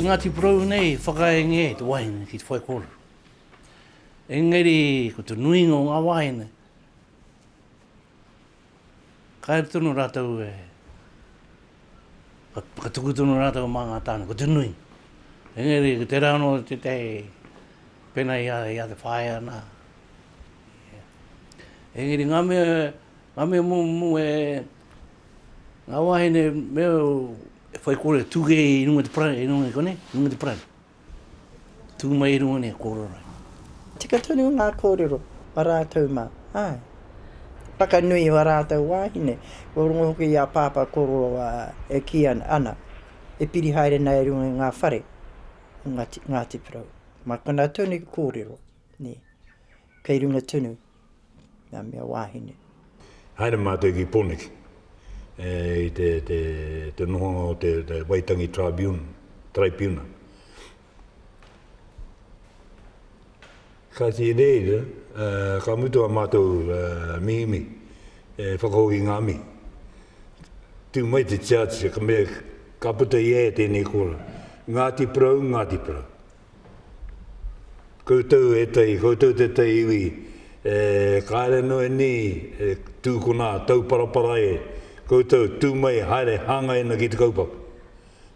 Ngāti Porou nei whakaenge te wahine ki te whai kōrero. Engari ko te nuinga o ngā wāhine, Kaere tonu rātou e, whakatuku tonu rātou mā ngā tāne, ko te nui. Engari, ko tērā anō tētahi pēnā i a, i a te whaea nā. Engari, ngā mea, ngā mea mō, mō e, ngā wāhine mea e whaikore tūkei i runga te parani, i runga i konei, i runga te parani. Tū mai i runga nei a kōrero. Tika tonu ngā kōrero a rātou mā, āe. Whakanui i ā rātou wāhine, kua rongo hoki i a Pāpā kōrero e kī ana, ana, e piri haere ana e runga i ngā whare o Ngāti Porou. Mā konā tonu i kōrero. Nē. Kei runga tonu ngā mea wāhine. Haere mātou ki Poneke i te nohonga o te Waitangi Tribunal. Kāti reira, ka mutu ā mātou mihimihi e whakahoki i ngā mihi. Tū mai te Judge, ka mea, ka puta i a ia tēnei kōrero, Ngāti Porou, Ngāti Porou. Koutou ētahi, koutou tētahi iwi e kāre noa nei e tū ko nā tauparapara e koutou, tū mai haere hāngai ana ki te kaupapa.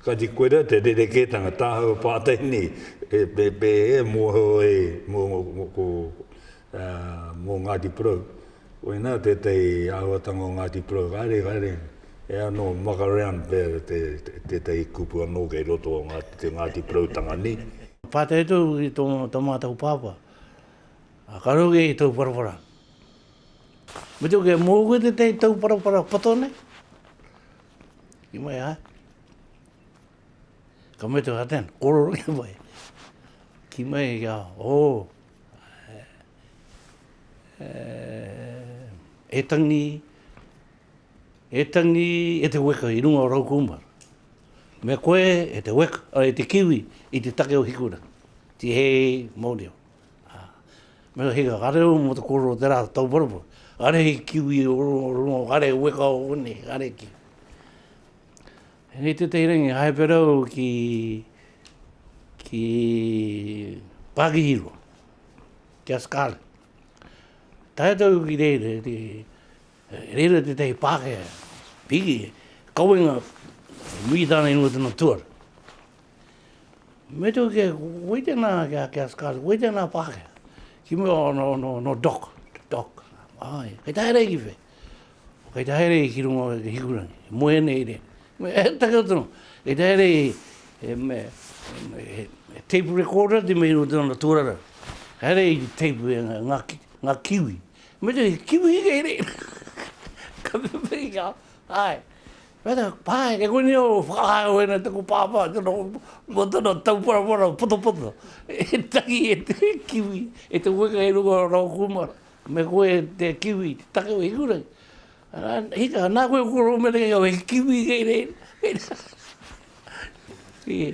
Kāti koe rā te rerekētanga, tāhau pātai nei, e pēpē e mōhio ai, mō ko, mō Ngāti Porou. Koinā tētahi āhuatanga o Ngāti Porou, haere, haere, he anō muck around pea tētahi kupu anō kei roto o te Ngāti Poroutanga nei. Pātai atu au ki tō mātou pāpā, ka rau kē i Tauwharawhara. Me tū kē, mō koe tētahi Tauwharawhara poto nei? Ki mai āe. Ka mea te whātea, korero ki mai. Ki mai, oh, e tangi, e tangi e te weka i runga o rau kūmara. Me koe e te weka, a, e te kiwi i te take o Hikurangi. Tihei mau reo. A, me he ka reo mo te koro o te rā tauparapa, kare he kiwi o runga, kare he weka o konei, kare he kiwi. Hei tētahi rangi hai wherau ki ki Pākihirua, ki a Scarlett. Tae atu ki reira, reira tētahi Pākehā, Piggy, kawenga, nui tāna i runga tana tuara. Me tū kia, wei tēnā kia, kia Scarlett, wei tēnā Pākehā. Ki mua, oh, no, no, no Doc, Doc, āe, kei tae rei ki whei. O kei te haere i ki runga o te hikurangi, e moe ana i rea. Me, he take o tono, kei te haere i, e, me, e, e, tape recorder te mihi o tona tōrara. Kei haere i tape e nga, nga, nga kiwi. Me te kiwi kei re. Ka me me i ka, ai. Me te, pai, e koe ni o whakahae o ena taku pāpā, tona, mo tona tau parawara, poto poto. E tangi e te kiwi, e te weka i runga o rau kumara. Me koe te kiwi i te take o Hikurangi. Arā, hika, nā koe ko Romerei au, he kiwi kei reira. Ii.